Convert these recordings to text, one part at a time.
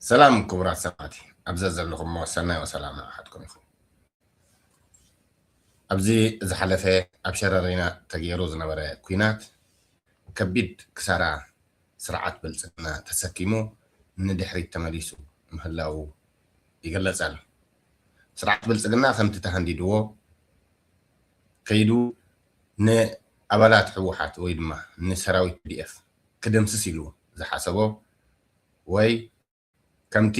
ሰላም ክቡራት ሰባት ኣብ ዘዘለኹሞ ሰናይ ወሰላም ንዓኻትኩም ይኹን። ኣብዚ ዝሓለፈ ኣብ ሸረሪና ተገይሩ ዝነበረ ኩናት ከቢድ ክሳራ ስርዓት ብልፅግና ተሰኪሙ ንድሕሪት ተመሊሱ ምህላዉ ይግለፅ ኣሎ። ስርዓት ብልፅግና ከምቲ ተሃንዲድዎ ከይዱ ንኣባላት ህወሓት ወይ ድማ ንሰራዊት ፒዲኤፍ ክድምስስ ኢሉ ዝሓሰቦ ወይ ከምቲ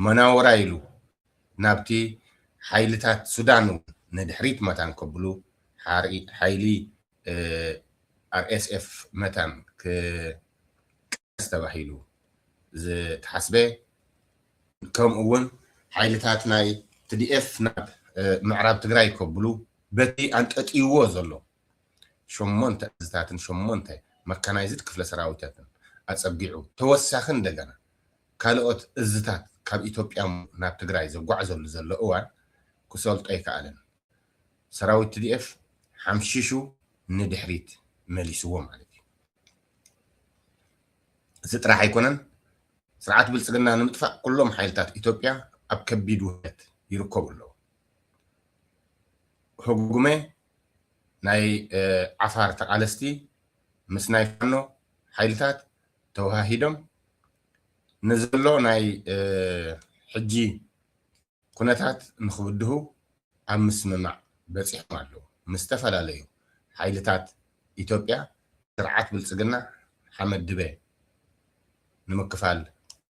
መናውራ ኢሉ ናብቲ ሓይልታት ሱዳን እውን ንድሕሪት መታን ከብሉ ሓይሊ RSF መታን ክቃለስ ተባሂሉ ዝተሓስበ ከምኡ እውን ሓይልታት ናይ TDF ናብ ምዕራብ ትግራይ ከብሉ በቲ ኣንጠጥይዎ ዘሎ ሸሞንተ እዝታትን ሸሞንተ መካናይዝድ ክፍለ ሰራዊታትን ኣፀጊዑ ተወሳኺ እንደገና ካልኦት እዝታት ካብ ኢትዮጵያ ናብ ትግራይ ዘጓዕዘሉ ዘሎ እዋን ክሰልጦ ኣይከኣለን። ሰራዊት tdf ሓምሺሹ ንድሕሪት መሊስዎ ማለት እዩ። እዚ ጥራሕ ኣይኮነን ስርዓት ብልፅግና ንምጥፋእ ኩሎም ሓይልታት ኢትዮጵያ ኣብ ከቢድ ውህደት ይርከቡ ኣለዉ። ህጉመ ናይ ዓፋር ተቓለስቲ ምስ ናይ ፋኖ ሓይልታት ተወሃሂዶም ንዘሎ ናይ ሕጂ ኩነታት ንኽብድሁ ኣብ ምስምማዕ በጺሖም ኣለዉ። ምስ ዝተፈላለዩ ሓይልታት ኢትዮጵያ ስርዓት ብልጽግና ሓመድ ድበ ንምክፋል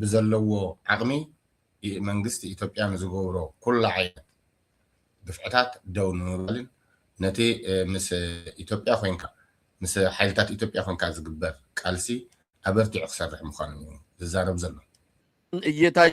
ብዘለዎ ዓቕሚ መንግስቲ ኢትዮጵያ ንዝገብሮ ኩሉ ዓይነት ግፍዕታት ደው ንምባልን ነቲ ምስ ኢትዮጵያ ኮይንካ ምስ ሓይልታት ኢትዮጵያ ኮይንካ ዝግበር ቃልሲ ኣበርቲዑ ክሰርሕ ምዃኑን እዩ ዝዛረብ ዘሎ። እየታይ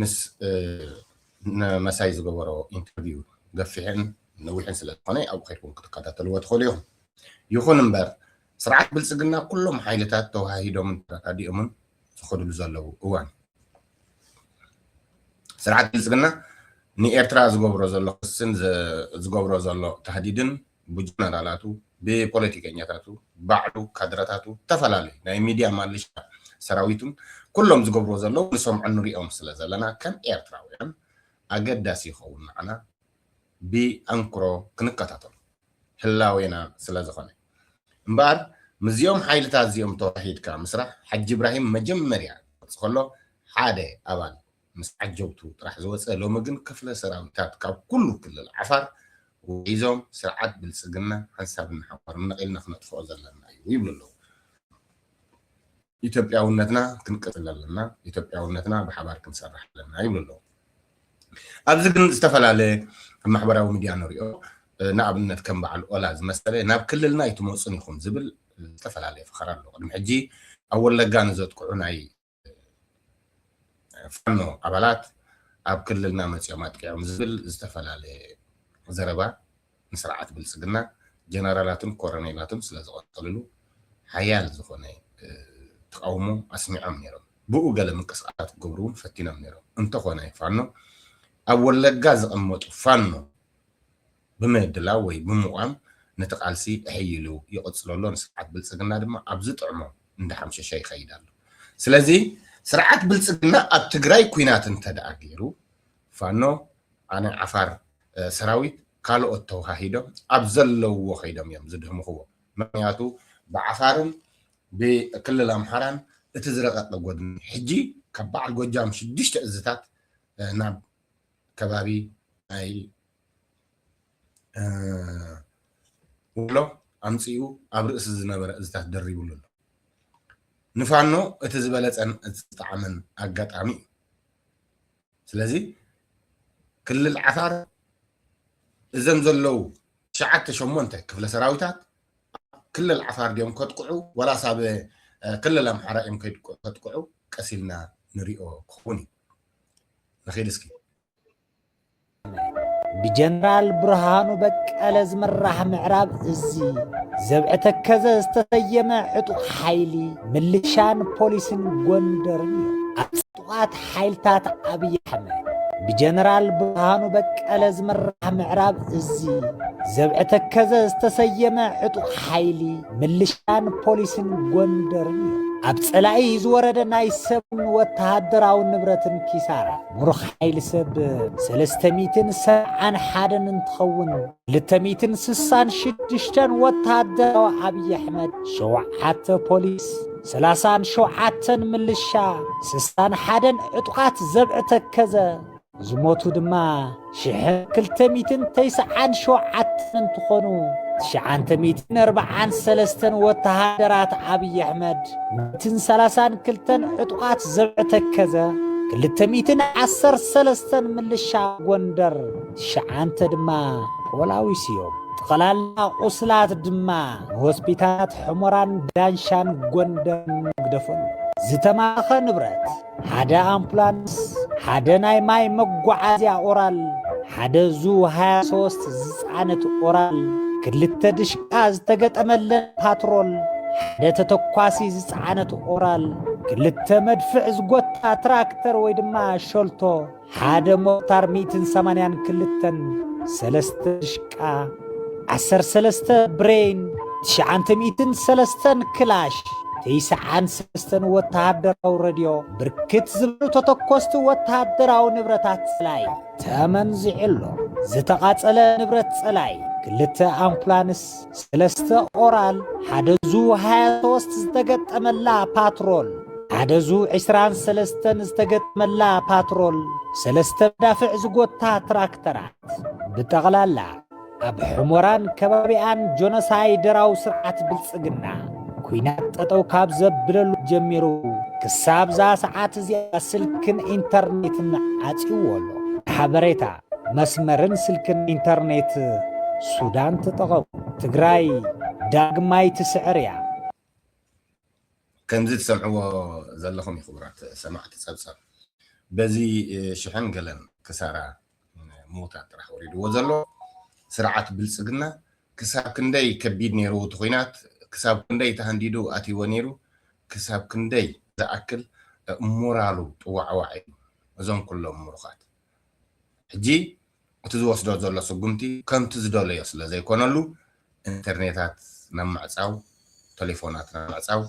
ምስ መሳይ ዝገበሮ ኢንተርቪው ገፊሕን ነዊሕን ስለ ዝኾነ ኣብኡ ከድኩም ክትከታተልዎ ትኽእሉ ኢኹም። ይኹን እምበር ስርዓት ብልፅግና ኩሎም ሓይልታት ተወሃሂዶምን ተረዳዲኦምን ዝኸድሉ ዘለዉ እዋን ስርዓት ብልፅግና ንኤርትራ ዝገብሮ ዘሎ ክስን ዝገብሮ ዘሎ ታህዲድን ብጀነራላቱ ብፖለቲከኛታቱ ባዕሉ ካድረታቱ ተፈላለዩ ናይ ሚድያ ማልሻ ሰራዊቱን ኩሎም ዝገብርዎ ዘለዉ ንሰምዖን ንሪኦም ስለ ዘለና ከም ኤርትራውያን ኣገዳሲ ይኸውን ንዓና ብኣንክሮ ክንከታተሎ ህላዌና ስለ ዝኾነ እምበኣር ምስዚኦም ሓይልታት እዚኦም ተዋሒድካ ምስራሕ ሓጂ ኢብራሂም መጀመርያ ክገልጽ ከሎ ሓደ ኣባል ምስ ዓጀብቱ ጥራሕ ዝወፀ ሎሚ ግን ክፍለ ሰራዊታት ካብ ኩሉ ክልል ዓፋር ውሒዞም ስርዓት ብልፅግና ሓንሳብ እናሓቆርም ነቒልና ክነጥፍኦ ዘለና እዩ ይብሉ ኣለዉ። ኢትዮጵያውነትና ክንቅፅል ኣለና፣ ኢትዮጵያውነትና ብሓባር ክንሰርሕ ኣለና ይብሉ ኣለዉ። ኣብዚ ግን ዝተፈላለ ኣብ ማሕበራዊ ሚድያ ንሪኦ ንኣብነት ከም በዓል ኦላ ዝመሰለ ናብ ክልልና ኣይትመፁን ኢኹም ዝብል ዝተፈላለየ ፈኸራ ኣሎ። ቅድሚ ሕጂ ኣብ ወለጋ ንዘጥቅዑ ናይ ፋኖ ኣባላት ኣብ ክልልና መፂኦም ኣጥቂዖም ዝብል ዝተፈላለየ ዘረባ ንስርዓት ብልፅግና ጀነራላቱን ኮረኔላቱን ስለዝቐፀልሉ ሓያል ዝኾነ ተቓውሞ ኣስሚዖም ነይሮም። ብኡ ገለ ምንቅስቓሳት ክገብሩ እውን ፈቲኖም ነይሮም። እንተኾነ ፋኖ ኣብ ወለጋ ዝቐመጡ ፋኖ ብምድላው ወይ ብምቛም ነቲ ቃልሲ እሕይሉ ይቕጽሎ ኣሎ፣ ንስርዓት ብልጽግና ድማ ኣብ ዝጥዕሞ እንዳሓምሸሸ ይኸይድ ኣሎ። ስለዚ ስርዓት ብልጽግና ኣብ ትግራይ ኲናት እንተድኣ ገይሩ፣ ፋኖ፣ ናይ ዓፋር ሰራዊት፣ ካልኦት ተወሃሂዶም ኣብ ዘለውዎ ከይዶም እዮም ዝድህምኽዎ። ምኽንያቱ ብዓፋርን ብክልል ኣምሓራን እቲ ዝረቐቐ ጎድኒ ሕጂ ካብ በዓል ጎጃም ሽዱሽተ እዝታት ናብ ከባቢ ናይ ወሎ ኣምፅኡ ኣብ ርእሲ ዝነበረ እዝታት ደሪብሉ ኣሎ ንፋኖ እቲ ዝበለፀን እቲ ዝጠዓመን ኣጋጣሚ እዩ ስለዚ ክልል ዓፋር እዘም ዘለው ትሽዓተ ሸሞንተ ክፍለ ሰራዊታት ክልል ዓፋር ድዮም ከጥቅዑ ወላስ ኣብ ክልል ኣምሓራ እዮም ከጥቅዑ ቀሲልና ንሪኦ ክኸውን እዩ ንኺድ እስኪ ብጀነራል ብርሃኑ በቀለ ዝምራሕ ምዕራብ እዚ ዘብዐ ተከዘ ዝተሰየመ ዕጡቕ ሓይሊ ምልሻን ፖሊስን ጎንደርን እዩ። ኣብ ጥቓት ሓይልታት ኣብዪ ኣሕመድ ብጀነራል ብርሃኑ በቀለ ዝምራሕ ምዕራብ እዚ ዘብዐ ተከዘ ዝተሰየመ ዕጡቕ ሓይሊ ምልሻን ፖሊስን ጎንደርን እዩ። ኣብ ጸላኢ ዝወረደ ናይ ሰብን ወተሃደራዊ ንብረትን ኪሳራ ሙሩኽ ሓይሊ ሰብ ሰለስተ ሚትን ሰብዓን ሓደን እንትኸውን ክልተ ሚትን ስሳን ሽድሽተን ወታሃደራዊ ኣብይ ኣሕመድ ሸውዓተ ፖሊስ ሰላሳን ሸውዓተን ምልሻ ስሳን ሓደን ዕጡቓት ዘብዒ ተከዘ ዝሞቱ ድማ ሽሕ ክልተ ሚትን ተይስዓን ሸውዓተን እንትኾኑ ትሽዓንተ ሚትን ኣርባዓን ሰለስተን ወተሃደራት ኣብይ ኣሕመድ ሚትን ሰላሳን ክልተን ዕጡቓት ዘብዐ ተከዘ ክልተ ሚትን ዓሰር ሰለስተን ምልሻ ጎንደር ትሽዓንተ ድማ ፖላዊስ እዮም። ጠቕላላ ቁስላት ድማ ንሆስፒታላት ሑመራን ዳንሻን ጎንደርን ግደፈሉ ዝተማረኸ ንብረት ሓደ ኣምፑላንስ፣ ሓደ ናይ ማይ መጓዓዝያ ኦራል፣ ሓደ ዙ 23 ዝፃነት ኦራል፣ ክልተ ድሽቃ ዝተገጠመለን ፓትሮል፣ ሓደ ተተኳሲ ዝፀዓነት ኦራል፣ ክልተ መድፍዕ ዝጎታ ትራክተር ወይ ድማ ሸልቶ፣ ሓደ ሞርታር ሚእትን ሰማንያን ክልተን ሰለስተ ድሽቃ ዓሰርተ ሰለስተ ብሬን ትሽዓንተ ሚእትን ሰለስተን ክላሽ ትይስዓን ሰለስተን ወተሃደራዊ ረድዮ ብርክት ዝበሉ ተተኮስቲ ወተሃደራዊ ንብረታት ጸላይ ተመንዚዑ ኣሎ። ዝተቓጸለ ንብረት ጸላይ ክልተ ኣምፑላንስ ሰለስተ ኦራል፣ ሓደ ዙ ሃያ ሶስት ዝተገጠመላ ፓትሮል፣ ሓደ ዙ ዕስራን ሰለስተን ዝተገጠመላ ፓትሮል፣ ሰለስተ መዳፍዕ ዝጎታ ትራክተራት፣ ብጠቕላላ ኣብ ሑሞራን ከባቢኣን ጆኖሳይደራዊ ስርዓት ብልጽግና ኩናት ጠጠው ካብ ዘብለሉ ጀሚሩ ክሳብ እዛ ሰዓት እዚኣ ስልክን ኢንተርኔትን ዓጽዩዎ ኣሎ። ንሓበሬታ መስመርን ስልክን ኢንተርኔት ሱዳን ተጠቐሙ። ትግራይ ዳግማይ ትስዕር እያ። ከምዚ ትሰምዕዎ ዘለኹም ኽቡራት ሰማዕቲ ጸብጻብ በዚ ሽሕን ገለን ክሳራ ምዉታት ጥራሕ ወሪድዎ ዘሎ ስርዓት ብልጽግና ክሳብ ክንደይ ከቢድ ኔሩ እቲ ኹናት ክሳብ ክንደይ ተሃንዲዱ ኣትይዎ ኔሩ ክሳብ ክንደይ ዝኣክል ሞራሉ ጥዋዕዋዕ ኢሉ እዞም ኩሎም ሙሩኻት ሕጂ እቲ ዝወስዶ ዘሎ ስጉምቲ ከምቲ ዝደለዮ ስለ ዘይኮነሉ ኢንተርኔታት ናብ ምዕጻው፣ ተሌፎናት ናብ ምዕጻው፣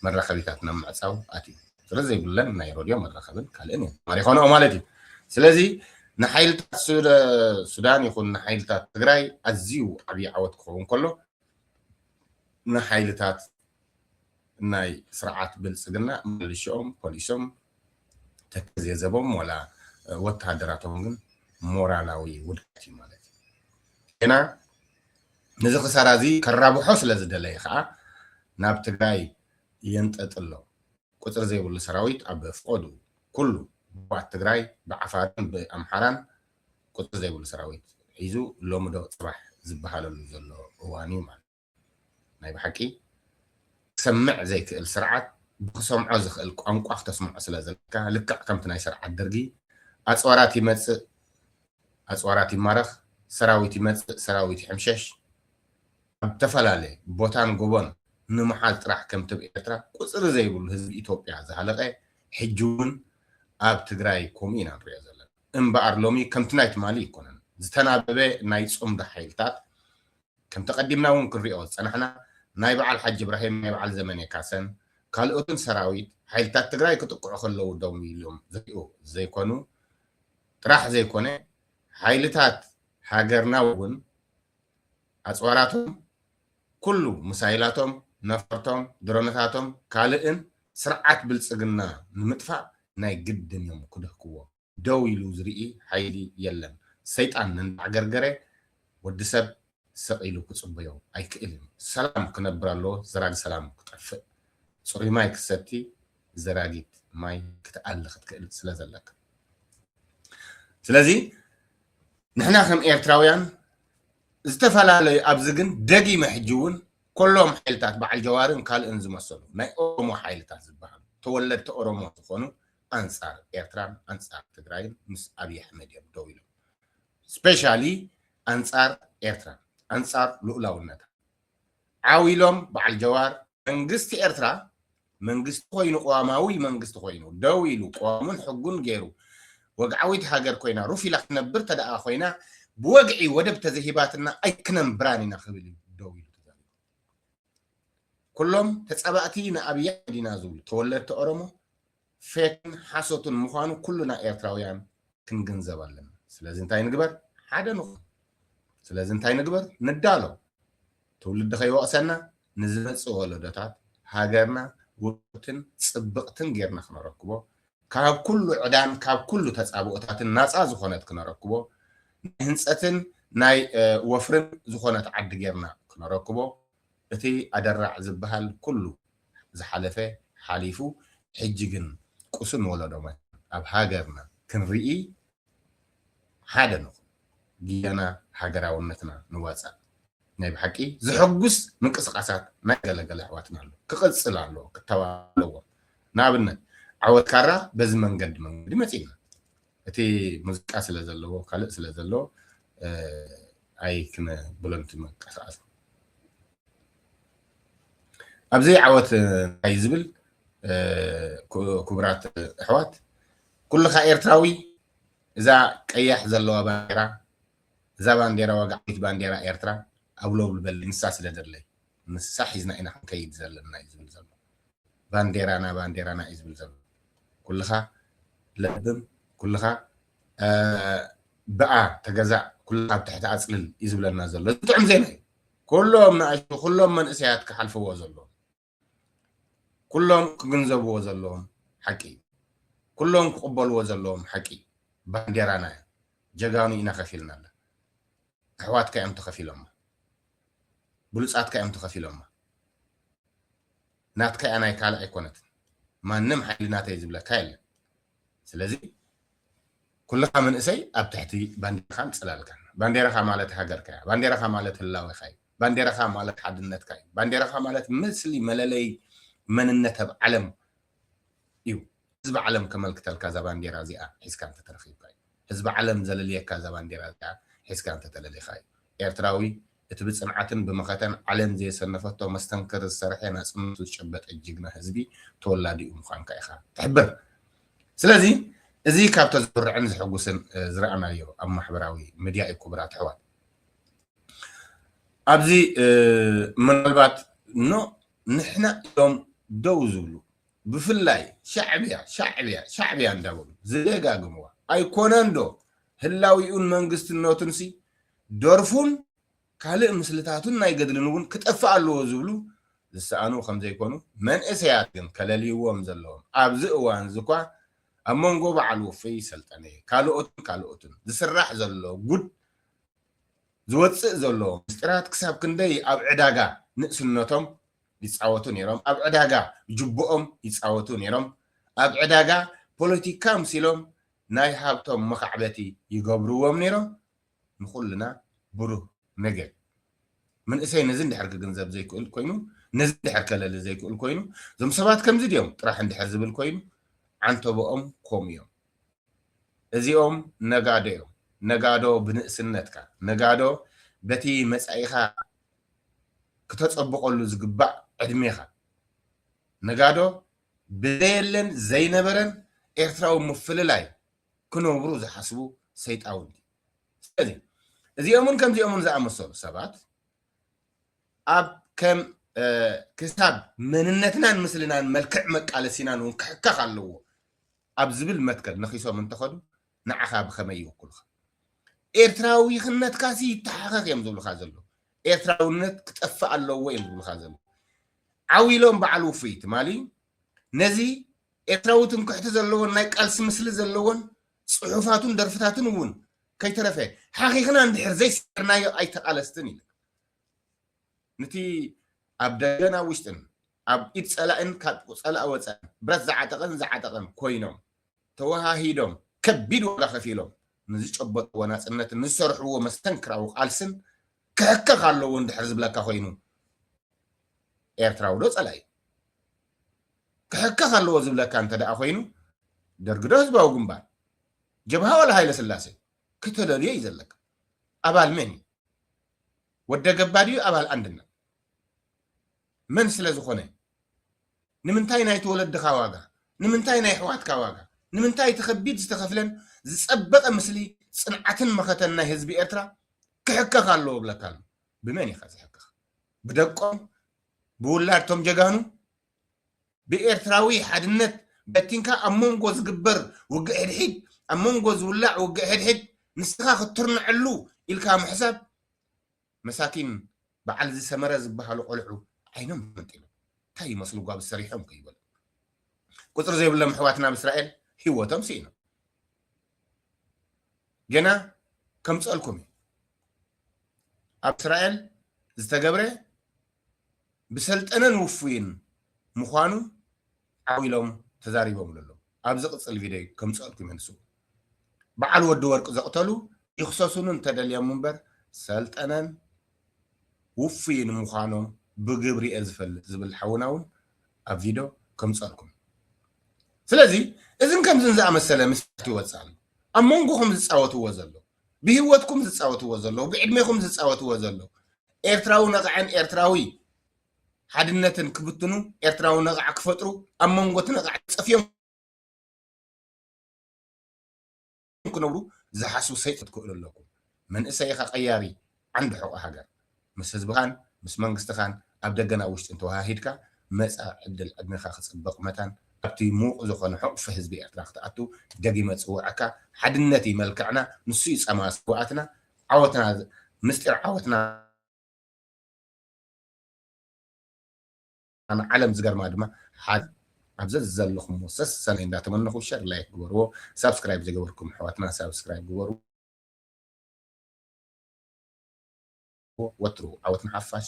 መራኸቢታት ናብ ምዕጻው ኣትዩ። ስለ ዘይብለን ናይ ረድዮ መራኸብን ካልእን እየን ማሪኾንኦ ማለት እዩ። ስለዚ ንሓይልታት ሱዳን ይኹን ንሓይልታት ትግራይ ኣዝዩ ዓብዪ ዓወት ክኸውን ከሎ ንሓይልታት ናይ ስርዓት ብልጽግና ምልሽኦም ፖሊሶም ተከዜ ዘቦም ዋላ ወተሃደራቶም ግን ሞራላዊ ውድቀት እዩ ማለት እዩ ጌና ነዚ ክሳራ እዚ ከራብሖ ስለ ዝደለየ ከኣ ናብ ትግራይ የንጠጥሎ ቁጽሪ ዘይብሉ ሰራዊት ኣብ ፍቆዱ ኩሉ ባት ትግራይ ብዓፋርን ብኣምሓራን ቁጽሪ ዘይብሉ ሰራዊት ሒዙ ሎሚ ዶ ጽባሕ ዝበሃለሉ ዘሎ እዋን እዩ ማለት ናይ ብሓቂ ክሰምዕ ዘይክእል ስርዓት ብክሰምዖ ዝክእል ቋንቋ ክተስምዖ ስለ ዘለካ ልክዕ ከምቲ ናይ ስርዓት ደርጊ ኣጽዋራት ይመጽእ ኣጽዋራት ይማረኽ ሰራዊት ይመጽእ ሰራዊት ይሕምሸሽ ኣብ ተፈላለየ ቦታን ጎቦን ንምሓል ጥራሕ ከምቲ ብ ኤርትራ ቁጽሪ ዘይብሉ ህዝቢ ኢትዮጵያ ዝሃለቀ ሕጂ እውን ኣብ ትግራይ ከምኡ ኢና ንሪኦ ዘለና እምበኣር ሎሚ ከምቲ ናይ ትማሊ ኣይኮነን ዝተናበበ ናይ ጽምዶ ሓይልታት ከምቲ ቀዲምና እውን ክንሪኦ ዝፀናሕና ናይ በዓል ሓጂ እብራሂም፣ ናይ በዓል ዘመነ ካሰን ካልኦትን ሰራዊት ሓይልታት ትግራይ ክጥቅዑ ከለዉ ደው ኢሎም ዝሪኡ ዘይኮኑ ጥራሕ ዘይኮነ ሓይልታት ሃገርና እውን ኣፅዋራቶም ኩሉ ምሳይላቶም፣ ነፈርቶም፣ ድሮነታቶም ካልእን ስርዓት ብልፅግና ንምጥፋእ ናይ ግድን እዮም ክድህክዎ። ደው ኢሉ ዝርኢ ሓይሊ የለን። ሰይጣን እንዳዕገርገረ ወዲ ሰብ ስቕ ኢሉ ክጽበዮ ኣይክእልን። ሰላም ክነብር ኣለዎ ዘራጊ ሰላም ክጠፍእ። ጽሩይ ማይ ክትሰቲ ዘራጊት ማይ ክትኣሊ ክትክእል ስለ ዘለካ። ስለዚ ንሕና ከም ኤርትራውያን ዝተፈላለዩ ኣብዚ ግን ደጊመ ሕጂ እውን ኮሎም ሓይልታት በዓል ጀዋርን ካልእን ዝመሰሉ ናይ ኦሮሞ ሓይልታት ዝበሃሉ ተወለድቲ ኦሮሞ ዝኾኑ ኣንጻር ኤርትራን ኣንጻር ትግራይን ምስ ኣብይ ኣሕመድ እዮም ደው ኢሎም ስፔሻሊ ኣንጻር ኤርትራ ኣንጻር ሉኡላውነታ ዓው ኢሎም በዓል ጀዋር መንግስቲ ኤርትራ መንግስቲ ኮይኑ ቅዋማዊ መንግስቲ ኮይኑ ደው ኢሉ ቅዋሙን ሕጉን ገይሩ ወግዓዊት ሃገር ኮይና ሩፍ ኢላ ክትነብር ተደኣ ኮይና ብወግዒ ወደብ ተዘሂባትና ኣይክነንብራን ኢና ክብል እዩ ደው ኢሉ ኩሎም ተጻባእቲ ንኣብይ ኣሕመድ ኢና ዝብሉ ተወለድቲ ኦሮሞ ፌክን ሓሶትን ምዃኑ ኩሉና ኤርትራውያን ክንግንዘብ ኣለና። ስለዚ እንታይ ንግበር? ሓደ ንኹን። ስለዚ እንታይ ንግበር? ንዳሎ። ትውልዲ ከይወቕሰና ንዝመጽእ ወለዶታት ሃገርና ውቅብትን ጽብቕትን ጌርና ክነረክቦ ካብ ኩሉ ዕዳን ካብ ኩሉ ተጻብኦታትን ናጻ ዝኾነት ክነረክቦ፣ ናይ ህንጸትን ናይ ወፍርን ዝኾነት ዓዲ ጌርና ክነረክቦ፣ እቲ ኣደራዕ ዝበሃል ኩሉ ዝሓለፈ ሓሊፉ ሕጂ ግን ቁሱን ወለዶ መታን ኣብ ሃገርና ክንርኢ ሓደ ንኹን፣ ጊያና ሃገራውነትና ንዋጻእ። ናይ ብሓቂ ዘሐጉስ ምንቅስቃሳት ናይ ገለ ገለ ኣሕዋትና ኣሎ ክቅጽል ኣለዎ ክተባባዕ ኣለዎም ንኣብነት ዓወት ካራ በዚ መንገዲ መንገዲ መጺእና እቲ ሙዚቃ ስለ ዘለዎ ካልእ ስለ ዘለዎ ኣይ ክነ ብሎንቲ መንቀሳቀስ ኣብዘይ ዓወት እንታይ ዝብል ክቡራት ኣሕዋት ኩልኻ ኤርትራዊ እዛ ቀያሕ ዘለዋ ባንዴራ እዛ ባንዴራ ወግዓዊት ባንዴራ ኤርትራ ኣውለውል በሊ ንሳ ስለ ዘድለይ ንሳ ሒዝና ኢና ክንከይድ ዘለና እዩ ዝብል ዘሎ ባንዴራና ባንዴራና እዩ ዝብል ዘሎ ኩልኻ ለብም ኩልኻ ብኣ ተገዛእ ኩልኻ ኣብ ትሕቲ ኣጽልል እዩ ዝብለና ዘሎ ዝጥዕም ዜና እዩ ኩሎም ንኣሽቱ ኩሎም መንእሰያት ክሓልፍዎ ዘለዎም ኩሎም ክግንዘብዎ ዘለዎም ሓቂ እዩ። ኩሎም ክቕበልዎ ዘለዎም ሓቂ እዩ። ባንዴራና እያ። ጀጋኑ ኢና ከፊልናላ። ኣሕዋትካ እዮም ተኸፊሎማ። ብሉጻትካ እዮም ተኸፊሎማ። ናትካ እያ ናይ ካልእ ኣይኮነትን። ማንም ሓይሊ ናተይ ዝብለካ የለን። ስለዚ ኩልኻ መንእሰይ ኣብ ትሕቲ ባንዴራኻን ጽላልካን። ባንዴራኻ ማለት ሃገርካ እያ። ባንዴራኻ ማለት ህላዌኻ እዩ። ባንዴራኻ ማለት ሓድነትካ እዩ። ባንዴራኻ ማለት ምስሊ መለለይ መንነት ኣብ ዓለም እዩ። ህዝቢ ዓለም ከመልክተልካ እዛ ባንዴራ እዚኣ ሒዝካ እንተተረኺብካ እዩ። ህዝቢ ዓለም ዘለልየካ እዛ ባንዴራ እዚኣ ሒዝካ እንተተለሊኻ እዩ። ኤርትራዊ እቲ ብጽንዓትን ብመኸተን ዓለም ዘየሰነፈቶ መስተንክር ዝሰርሐ ናጽነቱ ዝጨበጠ ጅግና ህዝቢ ተወላዲኡ ምዃንካ ኢኻ ትሕብር። ስለዚ እዚ ካብቶ ዘኹርዕን ዘሕጉስን ዝረኣናዮ ኣብ ማሕበራዊ ምድያ እዩ ክቡራት ኣሕዋት። ኣብዚ ምናልባት ኖ ንሕና እዮም ደው ዝብሉ ብፍላይ ሻዕብያ ሻዕብያ ሻዕብያ እንዳበሉ ዝደጋግምዋ ኣይኮነን ዶ ህላዊኡን መንግስትነቱን ሲ ደርፉን ካልእ ምስልታቱን ናይ ገድልን እውን ክጠፍእ ኣለዎ ዝብሉ ዝሰኣኑ ከም ዘይኮኑ መንእሰያት ግን ከለልይዎም ዘለዎም ኣብዚ እዋን እዚ እኳ ኣብ መንጎ በዓል ውፍይ ሰልጠነ ካልኦትን ካልኦትን ዝስራሕ ዘሎ ጉድ ዝወጽእ ዘሎ ምስጢራት ክሳብ ክንደይ ኣብ ዕዳጋ ንእስነቶም ይጻወቱ ነይሮም፣ ኣብ ዕዳጋ ጁቦኦም ይጻወቱ ነይሮም፣ ኣብ ዕዳጋ ፖለቲካ ምሲሎም ናይ ሃብቶም መኻዕበቲ ይገብርዎም ነይሮም፣ ንኹልና ብሩህ ነገ። መንእሰይ ነዚ እንድሕር ክግንዘብ ዘይክእል ኮይኑ፣ ነዚ እንድሕር ከለሊ ዘይክእል ኮይኑ፣ እዞም ሰባት ከምዚ ድዮም ጥራሕ እንድሕር ዝብል ኮይኑ፣ ዓንተቦኦም ከምኡ እዮም። እዚኦም ነጋዶ እዮም ነጋዶ ብንእስነትካ ነጋዶ በቲ መጻኢኻ ክተጸብቐሉ ዝግባእ ዕድሜኻ ነጋዶ ብዘየለን ዘይነበረን ኤርትራዊ ምፍልላይ ክነብሩ ዝሓስቡ ሰይጣውንቲ ስለዚ እዚኦምን ከምዚኦምን ዝኣመሰሉ ሰባት ኣብ ከም ክሳብ መንነትናን ምስልናን መልክዕ መቃለሲናን እውን ክሕከኽ ኣለዎ ኣብ ዝብል መትከል ነኺሶም እንተኸዱ ንዓኻ ብኸመይ ይውክሉኻ? ኤርትራዊኽነትካሲ ይተሓኸኽ እዮም ዝብሉኻ ዘለዉ። ኤርትራውነት ክጠፍእ ኣለዎ እዮም ዝብሉኻ ዘለዉ። ዓው ኢሎም በዓል ውፉይ ትማሊ ነዚ ኤርትራዊ ትምክሕቲ ዘለዎን ናይ ቃልሲ ምስሊ ዘለዎን ጽሑፋቱን ደርፍታቱን እውን ከይተረፈ ሓኺኽና እንድሕር ዘይሰዕርናዮ ኣይተቓለስትን ኢለ ንቲ ኣብ ደገን ኣብ ውሽጥን ኣብ ኢድ ጸላኢን ካብ ጸላኢ ወጻኢን ብረት ዝዓጠቐን ዝዓጠቐን ኮይኖም ተወሃሂዶም ከቢድ ዋጋ ከፊሎም ንዝጨበጥዎ ናጽነትን ንዝሰርሕዎ መስተንክራዊ ቃልስን ክሕከኽ ኣለዎ እንድሕር ዝብለካ ኮይኑ ኤርትራዊዶ ጸላኢ ክሕከኽ ኣለዎ ዝብለካ እንተደኣ ኮይኑ ደርግዶ ህዝባዊ ግንባር ጀብሃ ዋላ ሃይለስላሴ ክተለልዮ እዩ ዘለካ ኣባል መን እዩ ወደ ገባ ድዩ ኣባል ኣንድነት መን ስለ ዝኾነ ንምንታይ ናይቲ ወለድኻ ዋጋ ንምንታይ ናይ ኣሕዋትካ ዋጋ ንምንታይ እቲ ከቢድ ዝተኸፍለን ዝጸበቐ ምስሊ ጽንዓትን መኸተን ናይ ህዝቢ ኤርትራ ክሕከኽ ኣለዎ እብለካ ኣሎ ብመን ኢኻ ዝሕከኽ ብደቆም ብውላድቶም ጀጋኑ ብኤርትራዊ ሓድነት በቲንካ ኣብ ሞንጎ ዝግበር ውግእ ሕድሒድ ኣብ ሞንጎ ዝውላዕ ውግእ ሕድሕድ ንስኻ ክትትርነዐሉ ኢልካ ምሕሳብ መሳኪን በዓል እዚ ሰመረ ዝበሃሉ ቆልዑ ዓይኖም መንጢሎም እንታይ ይመስሉ ጓብ ሰሪሖም ከይበሉ ቁፅሪ ዘይብሎም ኣሕዋትና ኣብ እስራኤል ህይወቶም ስኢኖም ገና ከምፀልኩም እዩ ኣብ እስራኤል ዝተገብረ ብሰልጠነን ውፉይን ምዃኑ ዓው ኢሎም ተዛሪቦምሉ ኣለዉ። ኣብ ዝቕጽል ቪደዮ ከምጽኣልኩም እየ ንስኡ በዓል ወዲ ወርቅ ዘቕተሉ ይኽሰሱኑ እንተደልዮም እምበር ሰልጠነን ውፉይን ምዃኖም ብግብሪ እየ ዝፈልጥ ዝብል ሓውና እውን ኣብ ቪድዮ ከምጽኣልኩም ስለዚ እዝን ከምዝን ዝኣመሰለ ምስጢራት ይወጽእ ኣሎ ኣብ መንጎኹም ዝጻወትዎ ዘለዉ ብሂወትኩም ዝጻወትዎ ዘለዉ ብዕድሜኹም ዝጻወትዎ ዘለዉ ኤርትራዊ ነቓዕን ኤርትራዊ ሓድነትን ክብትኑ ኤርትራዊ ነቓዕ ክፈጥሩ ኣብ መንጎ እቲ ነቓዕ ጸፍዮም ክነብሩ ዝሓስቡ ሰይጣን ክትክእሉ ኣለኩም መንእሰይኻ ቀያሪ ዓንዲ ሕቖ ሃገር ምስ ህዝብኻን ምስ መንግስትኻን ኣብ ደገን ኣብ ውሽጥን ተወሃሂድካ መጻኢ ዕድል ዕድሜኻ ክጽብቕ መታን ኣብቲ ምዉቕ ዝኾነ ሕቑፊ ህዝቢ ኤርትራ ክትኣቱ ደጊመ ጽውዐካ ሓድነት ኢዩ መልክዕና ንሱ ኢዩ ጸማ ስውኣትና ዓወትና ምስጢር ዓወትና ኣነ ዓለም ዝገርማ ድማ ሓዝ ኣብ ዘዘለኹሞ ሰሰናይ እንዳተመነኹ ሸር ላይክ ግበርዎ ሳብስክራይብ ዘይገበርኩም ኣሕዋትና ሳብስክራይብ ግበሩ ወትሩ ዓወት ንሓፋሽ።